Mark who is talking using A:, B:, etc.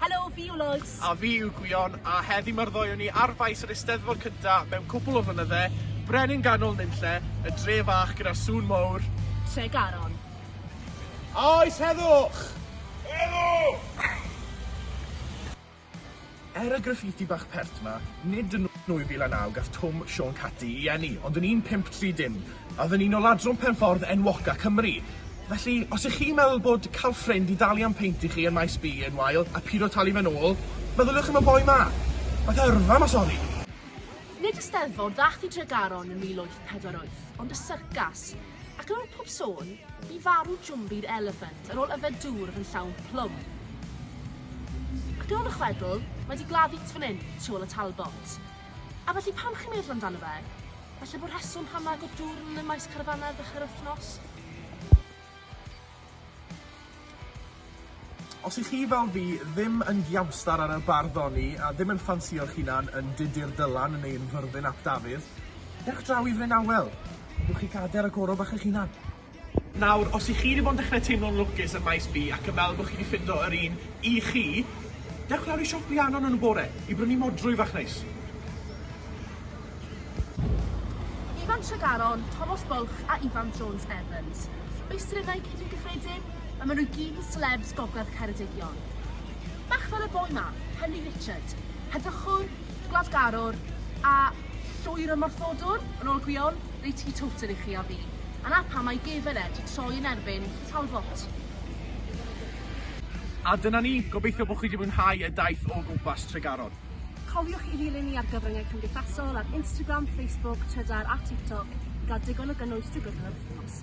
A: Helo, fi yw Lois. A fi yw Gwion, a heddi mae'r ddoi o ni ar faes yr Eisteddfod cynta mewn cwpl o flynydde, Brenin Ganol Nunlle, y dre fach gyda sŵn mowr. Tregaron. A oes heddwch! Heddwch! Er y graffiti bach pert 'ma, nid yn 2009 gath Twm Siôn Cati i eni, ond yn 1530 a oedd yn un o ladron pen-ffordd enwoca Cymru. Felly, os y'ch chi'n meddwl bod cael ffrind i dalu am peint i chi yn Maes B yn wael, a pido talu fe'n ôl, meddyliwch am y boi 'ma! Fath o yrfa 'ma, sori! Nid y Steddfod ddaeth i Dregaron yn 1848, ond y syrcas. Ac ar ôl pob sôn, bu farw Jumbi'r eliffant ar ôl yfed dŵr oedd yn llawn plwm. Ac ar ôl y chwedl, mae di gladdu tu fan hyn, tu ôl y Talbot. A felly pam chi'n meddwl amdano fe? Falle bod rheswm pam na agor dŵr yn y maes carfanau ar ddechrau'r wythnos? Os i chi fel fi ddim yn giamstar ar y bardd oni a ddim yn ffansio'ch hunan yn Dudur Dylan neu yn Fyrddin ap Dafydd, dewch draw i Fryn Awel, a gewch chi gader a goro bach eich hunan. Nawr, os i chi 'di bod yn dechre teimlo'n lwcus ym Maes B ac yn meddwl bod chi 'di ffindo yr un i chi, dewch lawr i siop Rhiannon yn y bore i brynu modrwy fach neis. Ifan Tregaron, Tomos Bwlch a Ifan Jones Evans. Meistrynnau Cynnig Gyffredin, a maen nhw gyd yn selebs gogledd Ceredigion. Bach fel y boi ma, Henry Richard, heddychwr, gwladgarwr a llwyr ymorthodwr, yn ôl Gwion, reit i Towter i chi a fi. A na pam mae gefen e 'di troi yn erbyn Talbot. A dyna ni, gobeithio bod chi 'di mwynhau y daith o gwmpas Tregaron. Cofiwch i ddilyn ni ar gyfryngau cymdeithasol ar Instagram, Facebook, Trydar a TikTok i gael digon o gynnwys drwy gydol yr wythnos.